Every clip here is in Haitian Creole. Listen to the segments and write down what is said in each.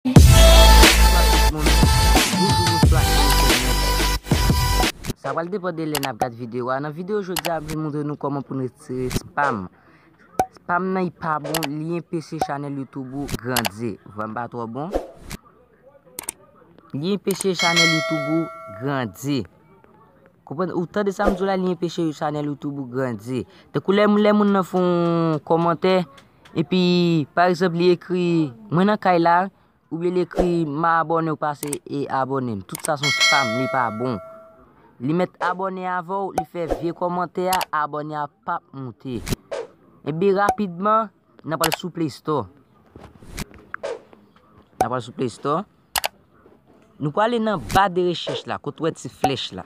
Bonswa tout moun, boujou bonswa envite mwen yo. Sa pral depan de lè nap gad video a. Nan video jodi a m vin moutre nou kòman pou n retire spam. Spam nan li pa bon, li enpeche chanèl YouTube ou grandi. Vwa m pa twò bon? Li enpeche chanèl YouTube ou grandi. Konprann? Ou tande sa m di w la li enpeche chanèl YouTube ou grandi. Tankou lè moun nan fon kòmantè, Epi pa egzanp li ekri mwen nan kay la oubyen li ekri ma abòne ou pase e abòne m. Tout sa son spam li pa bon. Li met abòne avè w li fè vye kòmantè a abòne a pap moute. Epi rapidman nan pral sou play store. Nan pral sou play store. Nou pral ale nan ba de rechèch la kote ou wè ti flèch la.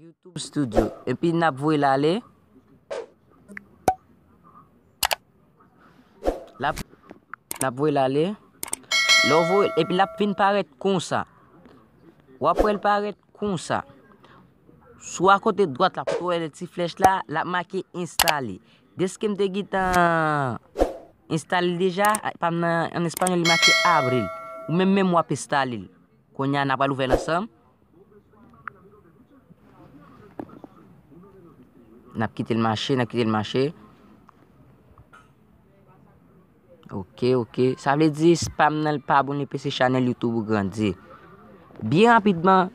YouTube studio epi nap voye l ale lap nap voye l ale lè w voye epi lap vin parèt konsa wap wè l parèt konsa sou a kote dwat la kote w wè ti flèch la lap make enstale deske m te gentan enstale l deja pa m nan an espayòl li make abre ou menm menm wap enstale l kounye a nap pral ouvè l ansanm N ap kite l mache, n ap kite l mache. Ok, ok. Sa vle di spam nan l pa bon epi se chanèl YouTube ou grandi. Byen rapidman,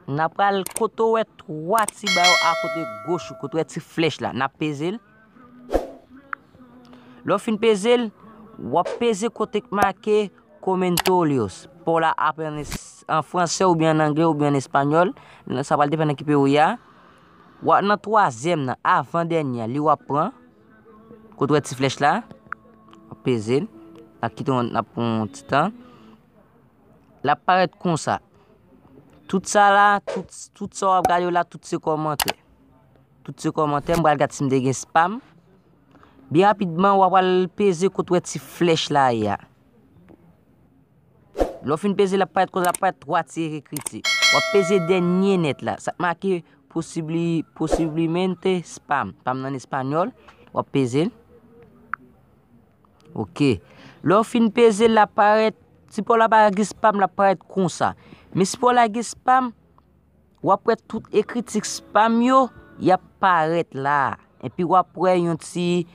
n ap pral kote ou wè 3 ti ba yo akote goch ou, kote ou wè ti flèch la. N ap peze l. Lè w fin peze l, w ap peze kote k make Comentorios. Paw la ap an franse oubyen an angle oubyen an espanyòl, sa pral depann nan ki peyi w ye a. Wa nan twazyèm nan, avan dènye an, li w ap pran, kote w wè ti flèch la, w ap peze l, l ap kite w nan pou yon ti tan. L ap parèt konsa. Tout sa la, tout sa w ap gade yo la, tout se kòmantè. Tout se kòmantè m pral gad si m te gen spam. Byen rapidman w apral peze kot wè ti flèch la ye a. Lò fin peze l ap parèt kon sa, ap parèt 3 ti ekriti. W ap peze dènye nèt la, sa k make posibli, posiblimente spam. Spam nan espanyòl, w ap peze l. Ok. Lè w fin peze l, l ap parèt, si paw la pa gen spam, l ap parèt kon sa. Men si paw la gen spam, W ap wè tout ekri tiks pa m yo, y ap parèt la. Enpi w ap wè yon ti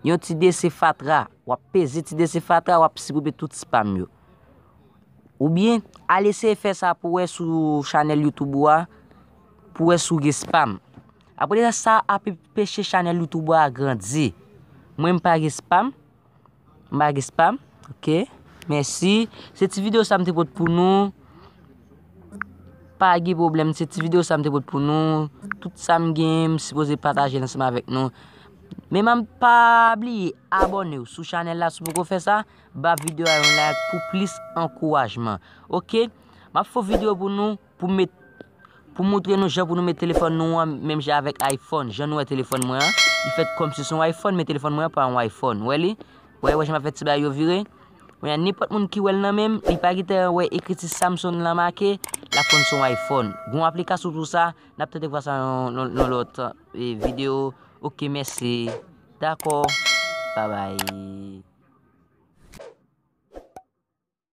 yon ti desen fatra. W ap peze ti desen fatra a, w ap sipribe tout tiks pa m yo. Oubyen, al eseye fè sa pou wè sou chanèl Youtube ou a, pou wè si w gen spam. Apresa sa ap enpeche chanèl Youtube ou a grandi. Mwen m pa gen spam. M pa gen spam ok mèsi se ti video sa m te pot pou nou pa gen pwoblèm se ti video sa m te pot pou nou tout sa m gen m sipoze pataje l ansanm avèk nou men m pa bliye abòne w sou chanèl la si w poko fè sa ba video a yon like pou plis ankourajman ok m ap fè yon video pou nou Pou met Pou moutre nou jan pou nou met telefòn nou an menm jan avèk iPhone. Jan nou wè telefòn mwen an, li fèt kòm si son iPhone men telefòn mwen an pa yon iPhone. Wè li? Wè wè jan map fè ti bay yo vire? Mwen an nenpòt moun ki wèl nan menm, li pa gite an wè ekriti Samsung lan make, lap konn son iPhone. Gon aplikasyon pou sa, nap tante vwa sa nan yon lòt video. Ok mèsi. Dakò. Babay.